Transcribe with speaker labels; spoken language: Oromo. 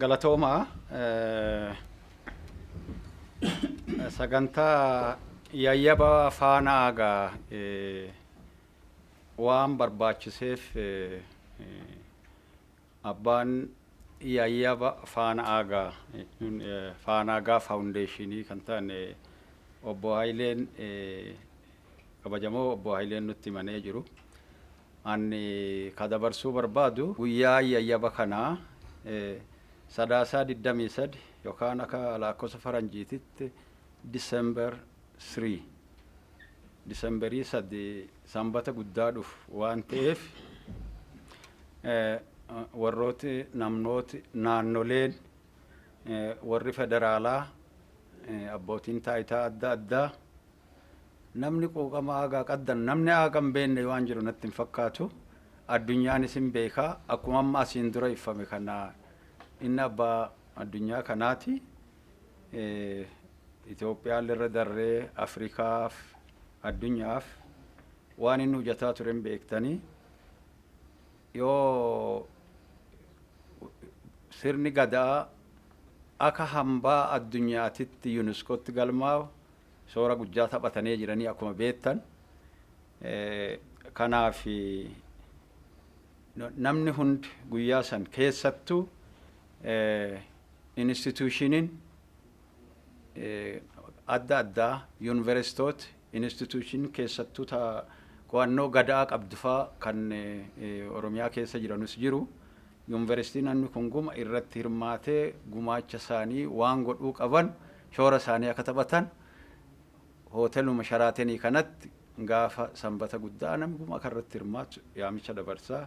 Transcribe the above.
Speaker 1: Galatoomaa sagantaa yayyaba faanaa gaa waan barbaachiseef abbaan yayyaba faanaa gaa jechuun faanaa gaa faawundeeshinii kan ta'an obbo Hayileen kabajamoo obbo Hayileen nutti himanii jiru. An ka dabarsuu barbaadu guyyaan yayyaba kanaa Sadaasaa 23 yokaan aka laakkosa faranjiititti December 3, Disemberii 3, Sanbata guddaa dhufu waan ta'eef warrooti, namnooti, naannoleen, warri federaalaa, abbootiin taayitaa adda addaa, Namni quuqama aagaa qaddan namni aaga hin beenne waan jiru natti hin fakkaatu. Addunyaanis hin beeka. Akkuma amma asiin dura iffame kana inni abbaa addunyaa kanaati. Itoophiyaan irra darree Afrikaaf addunyaaf waan inni hojjetaa ture hin beektanii. Yoo sirni gadaa akka hambaa addunyaatitti yuuniskootti galmaa'u Shoora guddaa taphatanee jiranii akkuma beektan. Kanaaf namni hundi guyyaa san keessattuu instituushiniin adda addaa yuunivarsiitoot instituushin keessattuu ta qo'annoo gada'aa qabdu faa kan Oromiyaa keessa jiranus jiru Yunveristiinonni kun guma irratti hirmaatee gumaacha isaanii waan godhuu qaban shoora isaanii akka taphatan Hooteluma Sharaatenii kanatti gaafa Sanbata guddaa namni guma kanarratti hirmaatu yaamicha dabarsaa.